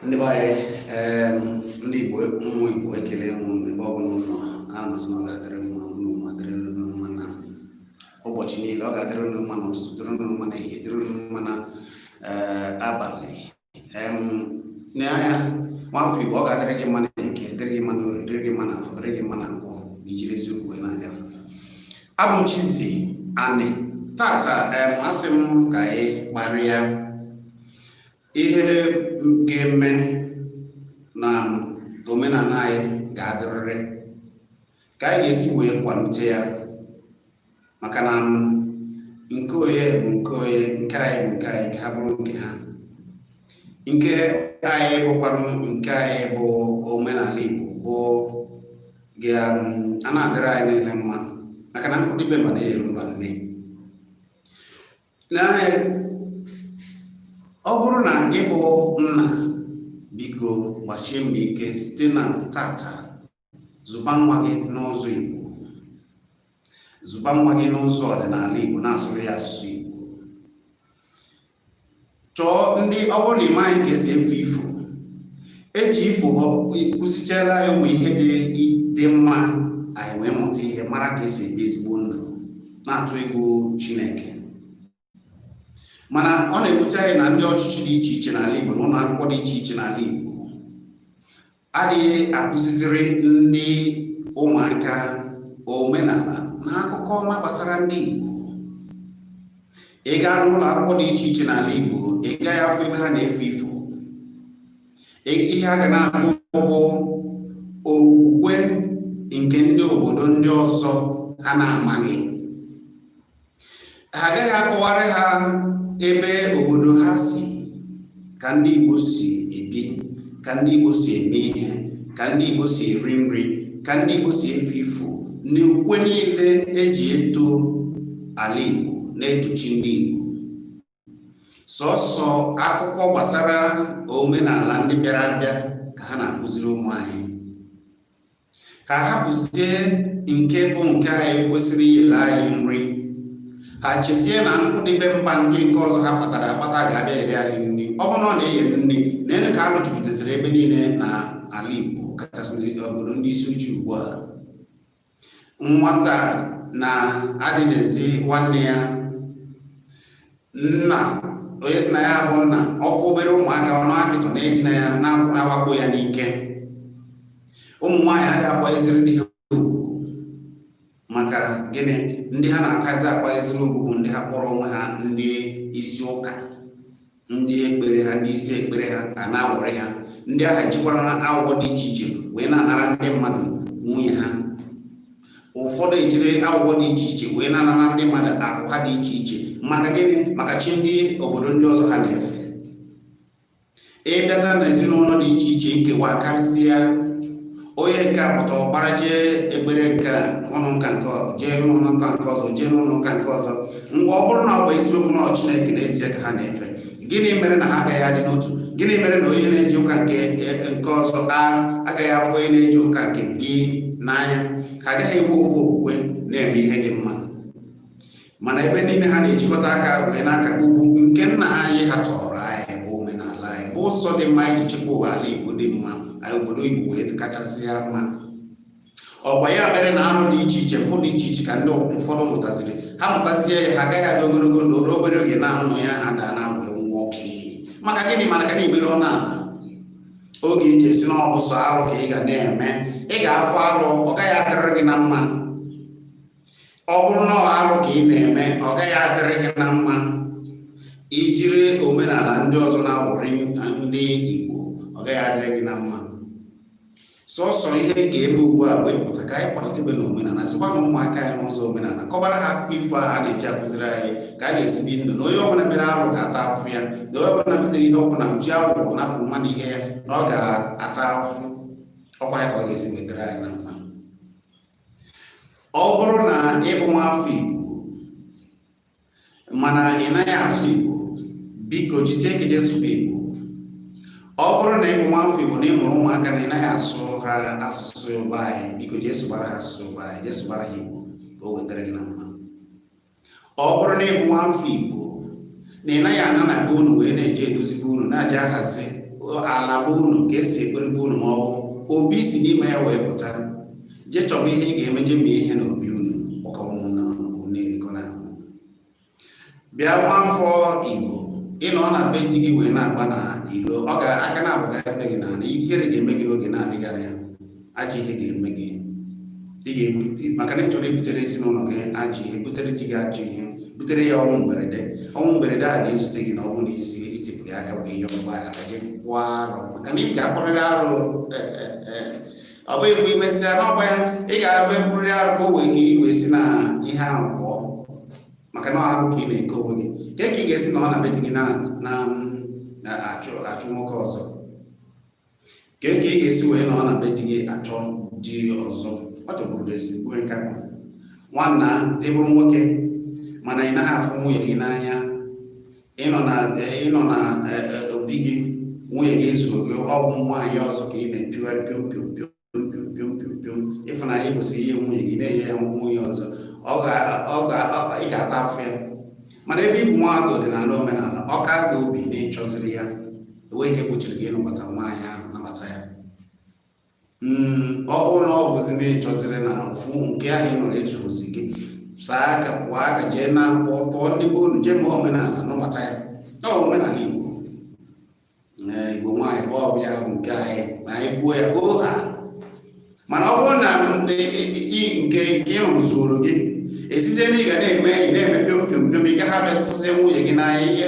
ndị be anyị ndị Igbo ụmụ Igbo ekele m ebe ọ bụla unu nọ ana m asị na ọ ga-adịrị mma ụlọ ma dịrị unu mma na ụbọchị niile ọ ga-adịrị unu mma na ụtụtụ dịrị unu mma na ehihie dịrị unu mma na abalị na anya nwafọ Igbo ọ ga-adịrị gị mma na eke dịrị gị mma na orie dịrị gị mma na afọ dịrị gị mma na nkwọ na ijiri eziokwu wee na-aga abụ m Chizzy Ani tata asị m ka anyị kparịa ihe ga-eme na omenala anyị ga-adịrịrị ka anyị ga-esi wee kwalite ya maka na nke onye bụ nke onye nke anyị bụ nke anyị nke ha bụrụ nke ha nke anyị bụkwanụ nke anyị bụ omenala Igbo bụ ga na-adịrị anyị niile mma maka na nkụ dị be mba na-eyere mba nri ọ bụrụ na gị bụ nna biko gbasie mbọ ike site na tata zụba nwa gị n'ụzọ Igbo zụba nwa gị n'ụzọ ọdịnala Igbo na-asụrụ ya asụsụ Igbo chọọ ndị ọ bụrụ na ị maghị ka esi efe ifo eji ifo kụzichara ya ụmụ ihe dị mma anyị wee mụta ihe mara ka esi ebi ezigbo ndụ na-atụ egwu chineke mana ọ na-ewute anyị na ndị ọchịchị dị iche iche n'ala igbo na ụlọ akwụkwọ dị iche iche n'ala igbo adịghị akụziziri ndị ụmụaka omenala na akụkọ ọma gbasara ndị Igbo ị gaa n'ụlọ akwụkwọ dị iche iche n'ala Igbo ị gaghị afụ ebe ha na-efe ifo ihe a ga na-anụ bụ okwukwe nke ndị obodo ndị ọzọ ha na-amaghị ha agaghị akọwara ha ebe obodo ha si ka ndị Igbo si ebi ka ndị Igbo si eme ihe ka ndị Igbo si eri nri ka ndị Igbo si efe ifo na ukwe niile eji eto ala Igbo na-eto chi ndị Igbo sọsọ akụkọ gbasara omenala ndị bịara abịa ka ha na-akụziri ụmụ anyị ha hapụzie nke bụ nke anyị kwesịrị iyere anyị nri ha chezie na nkụ dị be mba ndị nke ọzọ ha kpatara akpata ga-abịa eyere anyị nri ọ bụrụ na ọ na-eye nri nene ka alụ jupụtaziri ebe niile na ala Igbo kachasị obodo ndị isi uche ugbu a nwata na-edinazi nwanne ya nna onye sị na ya bụ nna ọ fụ obere ụmụaka ọ na-apịtụ na-edina ya na-awakpo ya n'ike ụmụ nwaanyị adịghị akwanyeziri di ha ugwu maka gịnị ndị ha na-akazi akwanyeziri ugwu bụ ndị ha kpọrọ onwe ha ndị isi ụka ndị ekpere ha ndị isi ekpere ha ka na-awọrị ha ndị a ha ejikwara na awụwọ dị iche iche wee na-anara ndị mmadụ nwunye ha ụfọdụ ejiri awụwọ dị iche iche wee na-anara ndị mmadụ akụ ha dị iche iche maka gịnị maka chi ndị obodo ndị ọzọ ha na-efe ịbịata na ezinụlọ dị iche iche nkewa karịsịa onye nke a pụta ọ gbara jee ekpere nke ụlọ nka nke ọzọ jee n'ụlọ nka nke ọzọ jee n'ụlọ nka nke ọzọ ngwa ọ bụrụ na ọ bụ eziokwu na ọ Chineke n'ezie ka ha na-efe gịnị mere na ha agaghị adị n'otu gịnị mere na onye na-eje ụka nke e nke ọzọ agaghị afụ onye na-eje ụka nke gị n'anya ha agaghị enwe ofu okwukwe na-eme ihe dị mma mana ebe niile ha na-ejikọta aka wee n'aka ugwu nke nna anyị ha tọọrọ anyị bụ omenala anyị bụ ụzọ dị mma iji chekwa ụwa ala Igbo dị mma obodo Igbo wee kachasịa mma ọkwa ya mere na arụ dị iche iche mpụ dị iche iche ka ndị ụfọdụ mụtaziri ha mụtazie ya ha agaghị adị ogologo ndụ ruo obere oge na-adịghị anya ha daa na mgbe nwa ọkụ maka gịnị mana ka na-emere ọ na-ala oge iji esi na ọ bụ sọ arụ ka ị ga na-eme ị ga-afụ arụ ọ gaghị adịrị gị na mma ọ bụrụ na ọ alụ ka ị na-eme ọ gaghị adịrị gị na mma ijiri omenala ndị ọzọ na-awụrị ndị Igbo ọ gaghị adịrị gị na mma sọsọ ihe a ga-eme ugbu a bụ ịpụta ka anyị kwalitebe na omenala zụkwa na ụmụaka anyị n'ụzọ omenala kọbara ha akụkọ ifo a na-eji akụziri anyị ka a ga-esi bi ndụ na onye ọbụla mere arụ ga-ata afụfụ ya na onye ọbụla metere ihe ọbụla o ji awụwọ napụ mmadụ ihe ya na ọ ga-ata afụfụ ọkwa ya ka ọ ga-esi wee dịrị anyị na mma ọ bụrụ na ịbụ nwa afọ Igbo mana ị naghị asụ Igbo biko jisie ike jee sụba Igbo ọ bụrụ na ịbụ nwa afọ Igbo na ịmụrụ ụmụaka na ị naghị asụ ha asụsụ be anyị biko jee sụbara ha asụsụ be anyị jee sụbara ha Igbo ka o wee dịrị gị na mma ọ bụrụ na ịbụ nwa afọ igbo na ị naghị ana na be unu wee na-eje edozi be unu na-eje ahazi ala be unu ka esi ekpere be unu ma ọ bụ obi si n'ime ya wee pụta jee chọba ihe ị ga-eme jee mee ihe n'obi unu bịa nwa afọ igbo ịnọ na be di gị wee na-agba na ilo ọ ga-aka na-abụkarị gị na ihere ga-eme gị n'oge na-adịghị anya ajọ ihe ga-eme gị ị ga-ebute maka na ị chọrọ ibutere ezinụlọ gị ajọ ihe butere di gị ajọ ihe butere ya ọnwụ mberede ọnwụ mberede a ga-ezute gị na ọ bụrụ na isepụ ya aka wee yọọ mgbaghara ka je kpụọ arụ maka na ị ga-akpụrịrị arụ ọ bụghị mgbe imesịa n'ọgba ya ị ga-eme mkpụrịrị arụ ka o wee gị ị wee si na ihe ahụ pụọ maka na ọ agbụ ka ị na-eke onwe gị nke ka ị ga-esi nọ na be di gị na-achụ nwoke ọzọ kee ka ị ga-esi wee nọ na be di gị achọ di ọzọ ọ chọbụrụ ezigbo nke ahụ nwanna ị bụrụ nwoke mana ị naghị afụ nwunye gị n'anya ịnọ na ịnọ na e, e, obi gị nwunye gị ezuo gị ọ bụ nwaanyị ọzọ ka ị na-epiwa pịom pịom pịom pịompịompịompịom ịfụnanya kwesịrị inye nwunye gị na-enye ya nwunye ọzọ ị ga-ata afụfụ ya mana ebe ịbụ nwaada ọdịnala omenala ọ ka gị obi na ịchọziri ya enweghị ihe gbochiri gị ịnụbata nwaanyị ahụ nụbata ya hmm, ọ bụrụ na ọ bụzi na ịchọziri na ofu nke ahụ ị nụrụ ezuozi gị saa aka kwọọ aka jee na akpọ kpọọ ndị be unu jee mee omenala nụbata ya ọ omenala Igbo igbo nwaanyị bụ ọbụ ya bụ nke anyị ma anyị kwuo ya hoo haa mana ọ bụrụ na nke nke ị nụrụ ezuro gị ị sizie na ị ga na-eme enyi na-eme pịom pịom pịom ị gaghị abịa fụzie nwunye gị n'anya ihe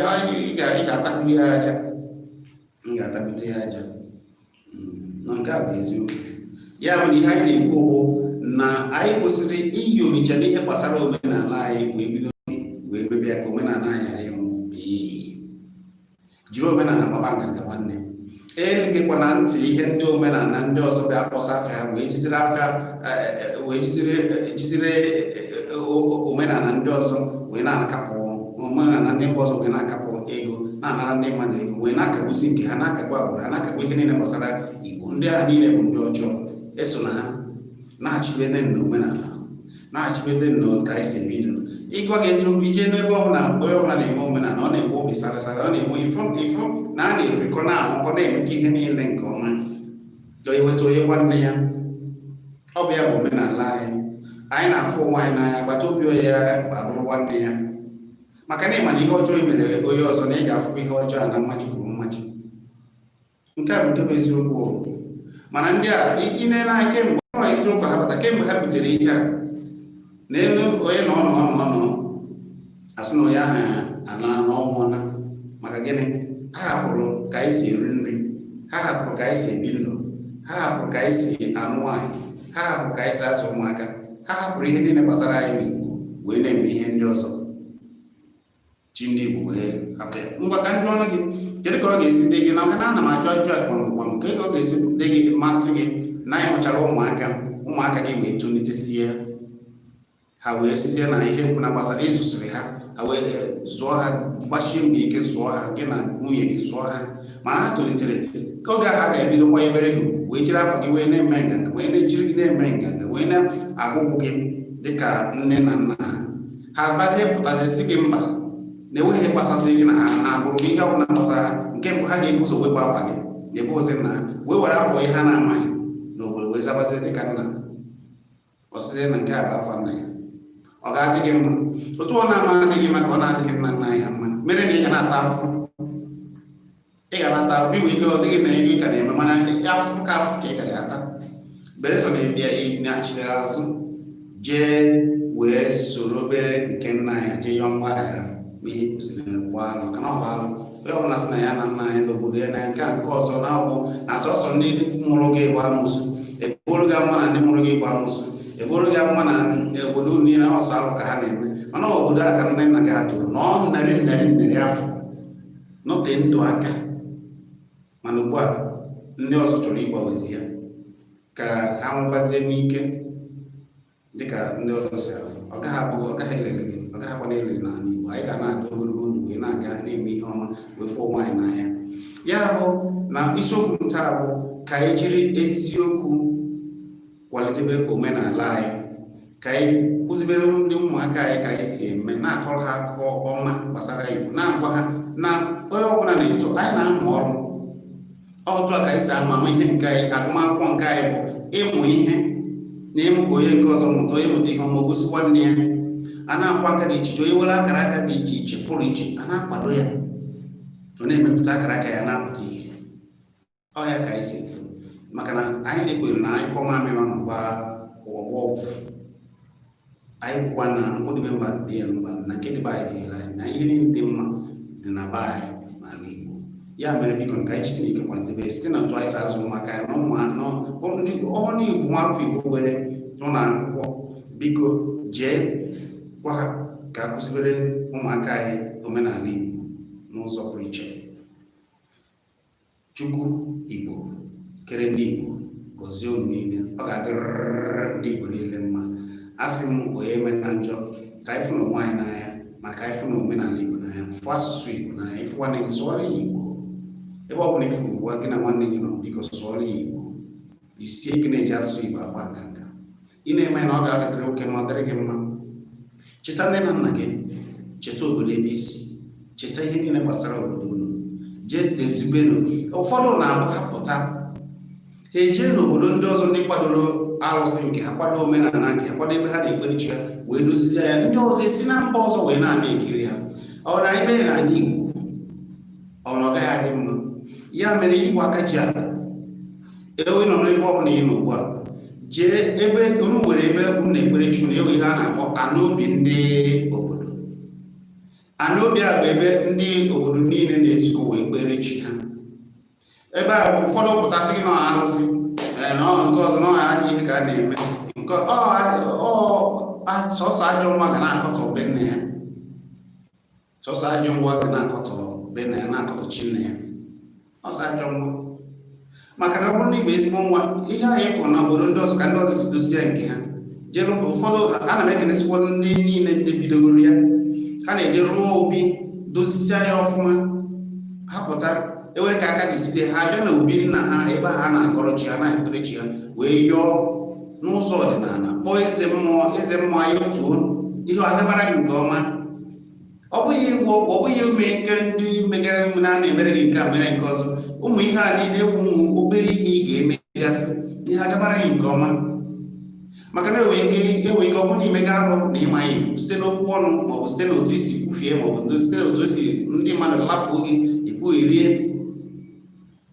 ị ga-atakwu ya aja m ga-atakwute ya aja hmm, na nke a bụ eziokwu ya bụ na ihe anyị na-ekwu bụ na anyị kwesịrị inyomicha n'ihe gbasara omenala anyị wee bido wee mebe ya ka omenala anyị jiri omenala gbaba nganga nwanne egekwana ntị ihe ndị omenala ndị ọzọ bịa kpọsa afịa wee jiziri afịa e, e, e, wee jiziri omenala ndị ọzọ wee na-akapụ omenala ndị mba ọzọ wee na-akapụ ego na-anara ndị mmadụ ego wee na-akagbusi nke ha na-akagbu agbụrụ ha na-akagbu ihe niile gbasara igbo ndị a niile bụ ndị ọjọọ eso na ha na-achịkwa na omenala na-achịkwete na ka anyị si ebi ndụ ịgwa gị eziokwu ije n'ebe ọbụla onye ọbụla na-eme omenala ọ na-enwe obi sarasara ọ na-enwe ịfụ ịfụnanya na-erikọ na-aṅụkọ na-emekọ ihe niile nke ọma dọ iweta onye nwanne ya ọ bụ ya bụ omenala anyị anyị na-afụ onwe anyị n'anya agbata obi onye ya abụrụ nwanne ya maka na ịma na ihe ọjọọ i mere onye ọzọ na ị ga-afụkwa ihe ọjọọ a na mmaji kwuru mmaji nke a bụ nke bụ eziokwu mana ndị a ị na-ele anya kemgbe ọ eziokwu ha bata kemgbe ha butere ihe a n'elu onye nọọ nọọ nọọ a sị na onye ahụ anaa na ọ nwụọla maka gịnị ha hapụrụ ka anyị si eri nri ha hapụrụ ka anyị si ebi ndụ ha hapụrụ ka anyị si anụ nwaanyị ha hapụrụ ka anyị si azụ ụmụaka ha hapụrụ ihe niile gbasara anyị n'Igbo wee na-eme ihe ndị ọzọ chi ndị Igbo wee hapụ ya ngwa ka m jụọnụ gị kedu ka ọ ga-esi dị gị na maka na ana m ajụ ajụjụ a kpamkpam kedu ka ọ ga-esi dị gị ma a sị gị na anyị mụchara ụmụaka ụmụaka gị wee tolitesie ha wee sizie na ihe na gbasara ịzụsịrị ha ha wee eh, zụọ ha gbasie mbọ ike zụọ ha gị na nwunye gị zụọ ha mana ha tolitere oge ahụ ha ga-ebido kwanyebere gị ugwu wee jiri afa gị wee na-eme nganga wee na-ejiri gị na-eme nganga wee na-agụgụ gị dịka nne na nna ha ha gbazie pụtazi sị gị mba na enweghị ihe gbasasị gị na ha na agbụrụ ihe ọbụla gbasara ha nke mbụ ha ga-ebu ụzọ wepụ afa gị bụzi nna ha wee were afa ihe ha na-amaghị n'obodo wee zabazi dị ka nna ọ sịzị na nke a bụ afa nna ya ọ ga-adị gị mma otu ọ na-ama adị gị mma ka ọ na-adịghị nna nna ya mma mere na ị ga na-ata afụ ị ga na-ata afụ i nwe ike ọ dị gị na iri ka na-eme mana afụ ka afụ ka ị ga ya ata beresọ na ị bịa nachitere azụ jee wee soro obere nke nna ya jee yọọ mgbaghara mee ihe kwesịrị kwa alụ ka na ọ bụ alụ onye ọbụla sị na ya na nna ya n'obodo ya na nke a nke ọzọ na ọ bụ na sọsọ ndị mụrụ gị bụ amosu e boro gị ama na ndị mụrụ gị bụ amosu e boro gị ama na obodo niile ọ sọ alụ ka ha na-eme mana obodo a ka nne nna gị atụrụ na ọ narị narị narị afọ nọte ndụ aka mana ugbu a ndị ọzọ chọrọ ịgbanwezi ya ka ha nwụkwazie n'ike dịka ndị ọzọ si anwụ ọ gaghị abụ ọ gaghị elele gị ọ gaghị akwa na-elele n'ala Igbo anyị ga na-adị ogologo ndụ wee na-aga na-eme ihe ọma wee fụ onwe anyị n'anya ya bụ na isiokwu m taa bụ ka anyị jiri eziokwu kwalitebe omenala anyị ka anyị kuzibere ndị ụmụaka anyị ka anyị si eme na-akọrọ ha akụkọ ọma gbasara Igbo na-agwa ha na onye ọbụla na-eto anyị na-amụ ọrụ otu a ka anyị si ama ama ihe nke anyị agụmakwụkwọ nke anyị bụ ịmụ ihe na ịmụ ka onye nke ọzọ mụta onye mụta ihe ọma o gosi nwanne ya a na-akwa aka dị iche iche onye nwere akara aka dị iche iche pụrụ iche a na-akwado ya ọ na-emepụta akara aka ya na-apụta ihe ọ ya ka anyị si eto maka na anyị na-ekwere na a nyụkọọ mamịrị ọnụ ọ gbọọ ụfụfụ anyị kwukwa na nkụ dị be mba dịrị mba na nke dị be anyị dịrị anyị na ihe niile dị mma dị na be anyị n'ala Igbo ya mere biko ka anyị jisi n'ike kwalitebe site na otu anyị si azụ ụmụaka ya na ụmụ anọ ọbụna Igbo nwa afọ Igbo were nọ na akwụkwọ biko jee gwa ha ka a kuzibere ụmụaka anyị omenala Igbo n'ụzọ pụrụ iche Chukwu Igbo kere ndị Igbo gọzie unu niile ọ ga-adịrịrị ndị Igbo niile mma a sị m onye emena njọ ka anyị fụnụ onwe anyị n'anya ma ka anyị fụnụ omenala Igbo n'anya fụ asụsụ Igbo n'anya ị fụ nwanne gị sụọrọ ya Igbo ebe ọ bụla ị fụ ugbu a gị na nwanne gị nọ biko sụọrọ ya Igbo jisie ike na-eji asụsụ Igbo agba nganga ị na-eme na ọ ga-adịrị gị oke mma ọ dịrị gị mma cheta nne na nna gị cheta obodo ebe i si cheta ihe niile gbasara obodo unu jee dozibenụ ụfọdụ na-abụ ha pụta ha ejee n'obodo ndị ọzọ ndị kwadoro arụsị nke ha kwado omenala nke ha kwado ebe ha na-ekpere chi ha wee dozie ya ndị ọzọ esi na mba ọzọ wee na-abịa ekiri ha ọ na anyị mere n'ala Igbo ọ na ọ gaghị adị mma ya mere Igbo aka ji akụ ewe nọ n'ebe ọ bụla ị nọ ugbu a jee ebe unu nwere ebe unu na-ekpere chi unu enwe ihe a na-akpọ ana obi ndị obodo ana obi a bụ ebe ndị obodo niile na-ezukọ wee kpere chi ha ebe a ụfọdụ pụta sị gị na ọ arụsị ee, na ọ nke ọzọ na ọ ajọ ihe ka a na-eme nke ọ ọ- ọ- sọsọ ajọ nwa ga na-akọtọ be nne ya sọsọ ajọ nwa ga na-akọtọ be nne ya na-akọtọ chi nne ya ọ sọ ajọ nwa maka na ọ bụrụ na ị bụ ezigbo nwa ihe anyị fụrụ na obodo ndị ọzọ ka ndị ọzọ dozie nke ha jere ụfọdụ ana m ekelesịkwa ndị niile ndị bidogoro ya ha na-eje rụọ obi dozisia ya ọfụma ha pụta ewere ka aka ji jide ha bịa na obi nna ha ebe ha na-akọrọ chi ha na-ekpere chi ha wee yọọ n'ụzọ ọdịnala kpọọ eze mmụọ eze mmụọ ya otuo ihe agabara gị nke ọma ọ bụghị ịgwọ ọgwụ ọ bụghị ime nke ndị megara enwe na na-emere gị nke a mere nke ọzọ ụmụ ihe a niile enwe ụmụ obere ihe ị ga-emegasị ihe agabara gị nke ọma maka na enwe ike ọ bụrụ na imega arụ na ịmaghị site n'okwu ọnụ maọbụ site n'otu isi kwufie maọbụ site n'otu esi ndị mmadụ lafuo gị ikwu rie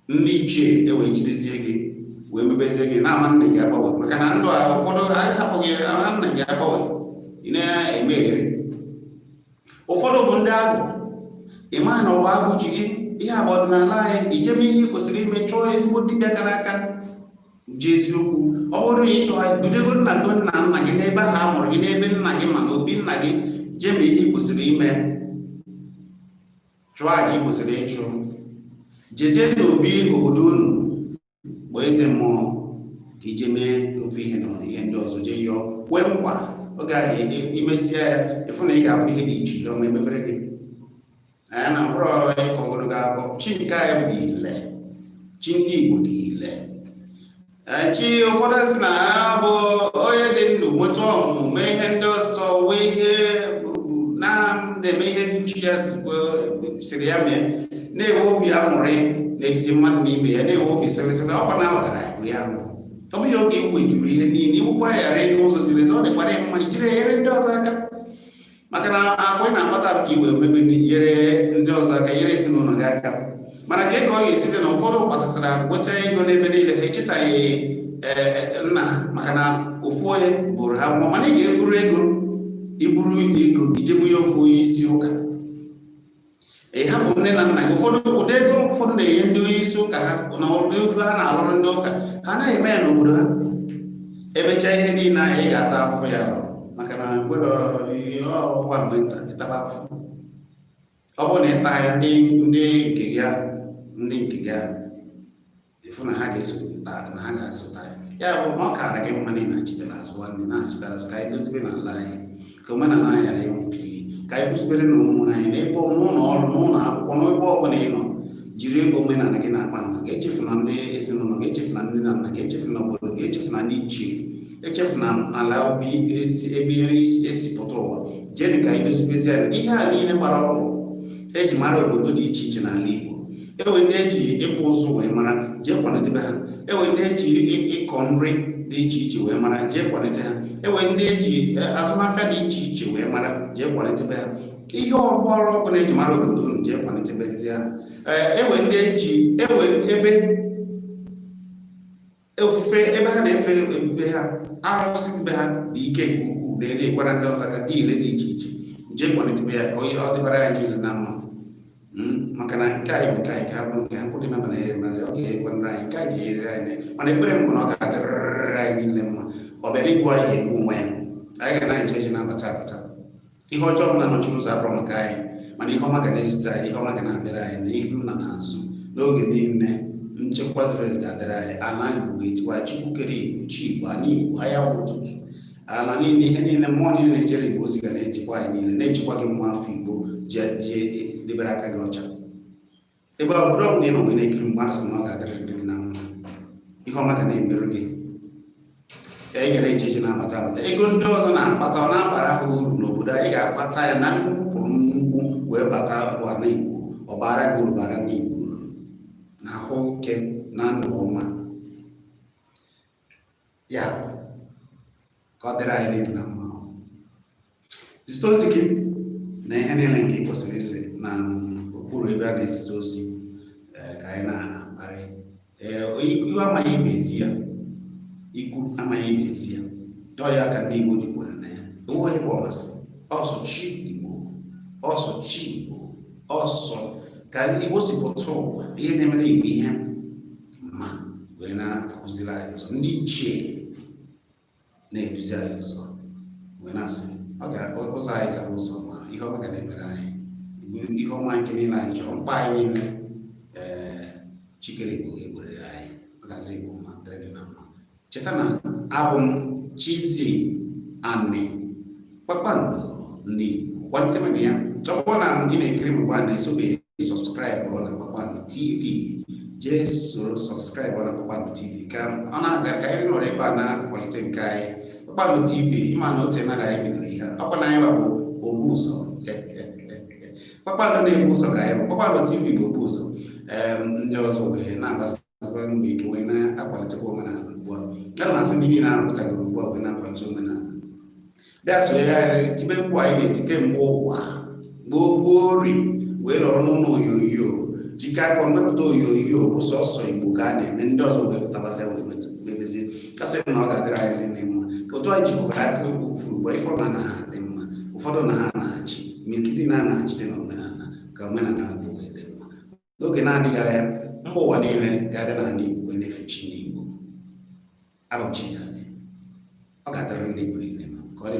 ndị ichie ewee jidezie gị wee mebezie gị na ama nna gị agbanwe maka na ndụ a ụfọdụ anyị hapụghị ama nna gị agbanwe ị na-emeghere ụfọdụ bụ ndị agwụ ị maghị na ọ bụ agwụ ji gị ihe agba ọdịnala anyị ijeme ihe ị kwesịrị ime chọọ ezigbo dibịa kara aka ji eziokwu ọ bụrụ na ị chọọ bidogoro na be nna nna gị n'ebe ha mụrụ gị n'ebe nna gị ma na obi nna gị jee mee ihe ị kwesịrị ime chụọ aja ị kwesịrị ịchụ jezie n'obi obodo unu kpọọ eze mmụọ ka ejee mee ofu ihe na ihe ndị ọzọ jee yọọ kwee nkwa oge ahụ imesịa ya ịfụ na ị ga-afụ ihe dị iche ihe ọma emebere gị anya na mkpụrụ ọ bụrọ ịkọ ogologo akọ chi nke anyị dị ile chi ndị Igbo dị ile chi ụfọdụ si na ya bụ onye dị ndụ nweta ọmụmụ mee ihe ndị ọzọ wee ihe na-eme ihe ndị chi ya sịrị ya mee na-enwe obi aṅụrị n'etiti mmadụ na ibe ya na-enwe obi sịrịsịrị ọkwa na ọgara bụ ya bụ ọ bụghị oge iwu juru ihe niile inwekwa ya n'ụzọ ziri ezi ọ dịkwara mma ijiri enyere ndị ọzọ aka maka na akụ a ị na-akpata ka i wee mebe nyere ndị ọzọ aka nyere ezinụlọ gị aka mana ka ego ọ ga-esite na ụfọdụ kpatasịra nwecha ego n'ebe niile ha echetaghị e, e, nna maka na ofu onye buuru ha amụma mana ị ga-eburu ego iburu ego ije bunye ofu onye isi ụka ịhapụ nne na nna gị ụfọdụ ụdị ego ụfọdụ na-enye ndị onye isi ụka ha na ụdị ego ha na-alụrụ ndị ụka ha anaghị eme ya n'obodo ha emechaa ihe niile ahụ ị ga-ata afụ ya maka na mgbere ọgwa mgbe nta ịtaba afụ ọ bụrụ na ịta ya ndị nke gị ahụ ndị nke gị ahụ ịfụ na ha ga-eso na ha ga-asụta ya ya bụ na ọ kara gị mma na ị nachite azụ nwanne nachite azụ ka anyị dozibe n'ala anyị ka omenala anyị ghara ịnwụ ka anyị kụziberenụ ụmụ anyị n'ebe n'ụlọ ọrụ n'ụlọ akwụkwọ n'ebe ọ bụla ị nọ jiri ego omenala gị na-akpa nganga echefuna ndị ezinụlọ gị echefuna ndị nna nna gị echefuna obodo gị echefuna ndị ichie echefuna ala obi ebe i si pụta ụwa jee ka anyị dozibezianụ ihe a niile gbara ọkpụ eji mara obodo dị iche iche n'ala Igbo enwee ndị eji ịkpụ ụzụ wee mara jee kwalitebe ha enwee ndị eji ịkọ nri dị iche iche wee mara jee kwalite ha enwee ndị eji e, azụmahịa dị iche iche wee mara jee kwalitebe ha ihe ọgbọrọ ọbụla eji mara obodo unu jee kwalitebezie ha enwee ndị eji enwee ebe ofufe ebe ha na-efe be ha arụsị be ha dị ike nke ukwuu na-enyekwara ndị ọzọ aka dị ile dị iche iche jee kwalitebe ya ka ọ dịbara anyị niile na mma hmm? maka na nke anyị bụ nke anyị ka bụrụ nke ha nkwụdị na mana ere mmadụ ọ ga-enyekwara anyị nke anyị ga-enyere anyị mana ekpere m bụ na ọ ga-adịrịrị anyị niile mma ọ bịara igbu anyị ga-egbu onwe ya anyị ga na-eje eje na-abata abata ihe ọjọọ ọbụla nọchiri ụzọ abụrọ maka anyị mana ihe ọma ga na-ezute anyị ihe ọma ga na-abịara anyị n'ihu na n'azụ n'oge niile nchekwa zuru ezu ga-adịrị anyị ala igbo echekwa chukwu kere igbo chi igbo ala igbo anyanwụ ụtụtụ ala niile ihe niile mmụọ niile na-ejere igbo ozi ga na-echekwa anyị niile na-echekwa gị nwa afọ igbo jee debere aka gị ọcha ebe obodo ọbụla ị nọ wee na-ekiri m ugbu a sị na ọ ga-adịrịrị gị na mma ihe ọma ga na-emere gị anyị ga na-eje eje na-abata abata ego ndị ọzọ na-akpata ọ na-abara ha uru n'obodo anyị ga-akpata ya na nnukwu buru nnukwu wee bata ala igbo ọ bara gị uru bara ndị igbo uru na ahụ ike na ndụ ọma ya ka ọ dịrị anyị niile na mma zite ozi gị na ihe niile nke ị kwesịrị izi na okpuru ebe a na-ezite ozi eh, ka anyị na-akparị eh, ikwu amaghị ibe ezi ya ikwu amaghị ibe ezi ya dọọ ya aka na ntị Igbo ji kwere na ya enweghị bụ ọmasị ọ sọ chi Igbo ọ sọ chi Igbo ọ sọ ka Igbo si pụta ụwa ihe na-emere Igbo ihe mma wee na-akụziri anyị ụzọ ndị ichie na-eduzi anyị ụzọ wee na-asị ụzọ anyị ga-aga ụzọ ọma ihe ọma ga na-emere anyị ihe ọma nke niile anyị chọrọ mkpa anyị niile ee eh, chi kere igbo ga-egboro anyị ọ ga-adịrị igbo mma dịrị gị na mma cheta na abụ m Chizzy Ani kpakpando ndị Igbo kwalitebenụ ya ọ bụrụ na ndị na-ekiri m ugbu a na-esobeghị sọbskraịbụ na kpakpando TV jee soro sọbskraịbụ na kpakpando TV ka ọ na-aga ka anyị nọrọ ebe a na-akwalite nke anyị kpakpando TV ịma na o teena aka anyị bidoro ihe ọkwa na anyị bụ obu ụzọ kpakpando na-ebu ụzọ ka anyị bụ kpakpando TV bụ obu ụzọ ndị ọzọ wee na-agbasa na-agbasi mbọ ike wee na-akwalitekwa omenala ugbu a ya na-asị ndị niile a pụtagoro ugbu a wee na-akwalite omenala bịa sonyegharịrị tibe mkpu anyị na-eti kemgbe ụwa gboo gboo ri wee nọrọ n'ụlọ onyonyo jikọ aka mepụta onyonyo bụ sọsọ Igbo ka a na-eme ndị ọzọ wee pụtabasịa wee mebezie ka a sị na ọ ga-adịrị anyị niile mma ka otu anyị jikọkọta aka okwu furu ugbu a ụfọdụ na ha dị mma ụfọdụ na ha na-achị imirikiti na-anaghachite na omenala ka omenala Igbo n'oge na-adịghị anya mba ụwa niile ga-abịa n'ala Igbo wee na-efe chi ndị Igbo abụ m Chizzy Ani ọ ga-adịrị ndị Igbo niile mma ka ọ dị